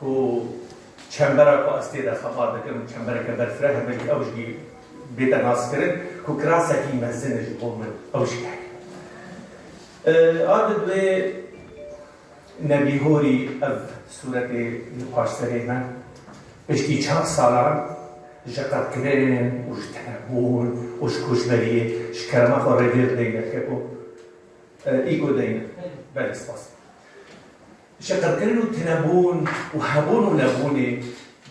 Ku çembera ku ez tê de xebat dikim çembereke berfir e, hevalî ew jî bête naskirin ku kirasekî mezin e ji bo min ew jî heke. A di bi nebîhorî ev sûretê li paş serê me piştî çar salan ji qedkirin û ji tenebûn û ji koçberiyê ji kerema xwe rêvêr deyne li ke ku î ku deyne. Belê spas. Şiqilkirin û tinebûn û hebûn û nebûnê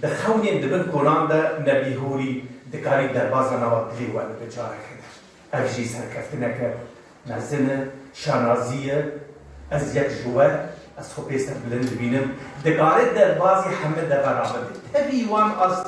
di xewnên di bin kolan de ne bîhûrî dikarî derbaza nava dilê we bibe carekene. Ev jî serkeftineke mezin e, şanazî ye. Ez yek ji we, ez xwe pê ser bilind dibînim, dikare derbazê heme deve rabin. Tevî wan astî.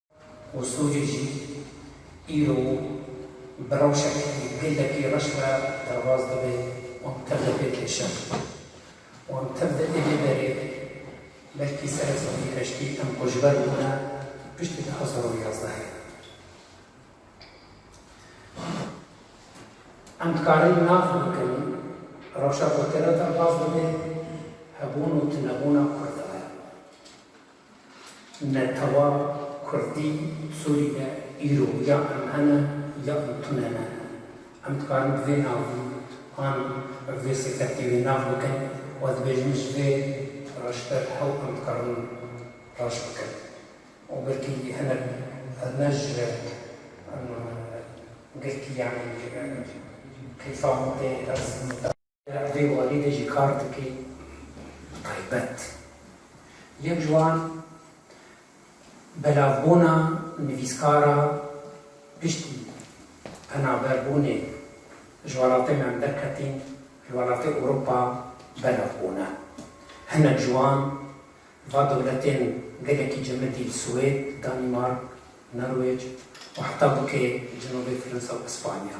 Westocê jî îro bi rewşekî gelekî reş re derbas dibe û tev de pêk dişe. Wan tev de ê vê berê belkî serê sedî heştî em ku ji ber bûne piştî du hezar û yazdehê. Em dikarin nav bikin rewşa ku tê re derbas dibe hebûn û tunebûna Kurdan e. Netewa kurdî Sûrî de îro ya em hene ya em tune ne. Em dikarin bi vê navî an bi vê sêketî wê nav bikin û dibêjin ji vê reşber hew em dikarin reş bikin û belkî hinek ne ji girtî yanî keyfa min tê ez Ev dê walî de jî kar dike bi taybet. Yek ji wan belavbûna nivîskara piştî penaberbûnê ji welatê me em derketîn li welatê Ewropa belav bûne. Hinek ji wan va dewletên gelekî cemidî li Swêd, Danîmark, Norwêc û heta bikê cenobê Firinsa û Îspanya.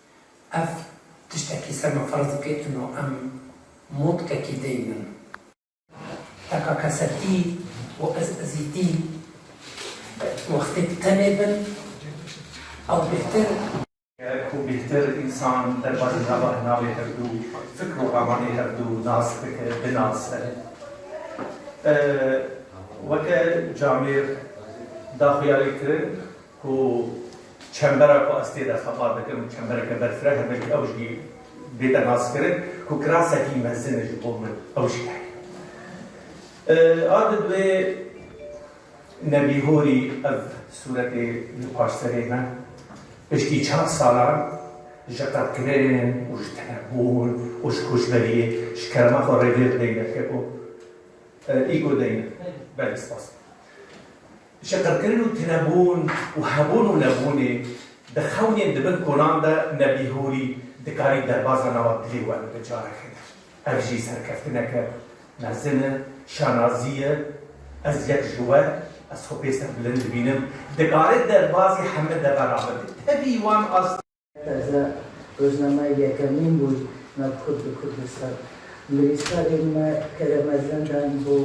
Ev tiştekî ser me ferz dike ino em motkekî dê min. Teka kesekî û ez ezîtî wextê bi tenê bin ew bêhtir. Ku bêhtir însan derbasî nava navê hevdu fikr û ramanê hevdu nas bike, binase. Weke camêr da xwe ya lê kirin. Ku çembera ku ez tê de xebat dikim çembereke berfir e, hevalî ew jî bête naskirin ku kirasekî mezin e ji bo min ew jî heye. A di bi nebîhorî ev sûretê li paş serê me piştî çar salan ji qedkirin û ji tenebûn û ji koçberiyê ji kerema xwe rêvêr deyne. Keko î ku deyne. Belê spas. Şiqilkirin û tunebûn û hebûn û nebûnê di xewnên di bin kolan de ne bîhûrî dikarî derbaza nava dilê we bibe careke din. Ev jî serkeftineke mezin e, şanazî ye. Ez yek ji we, ez xwe pê serbilind dibînim, dikare derbazê heme deve ra bibe. Tevî wan astî. Taze rojnameyê yekemîn bû nav Kurd û Kurdistan. Nivîskarên me kere mezin dan bo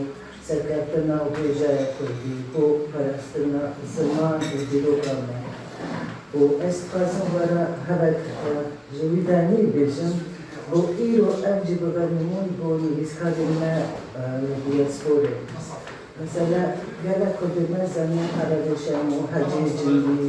serkeftina hêjaya Kurdî, bo parastina ziman û dîroka me û ez dixwazim were hev ji wî ve nî bêjim bo îro ev jî bibe nimûn bo nivîskarên me li diasporê. Mesela gelek Kurdên me Zemîn Qereroşen û Hecî Cîndî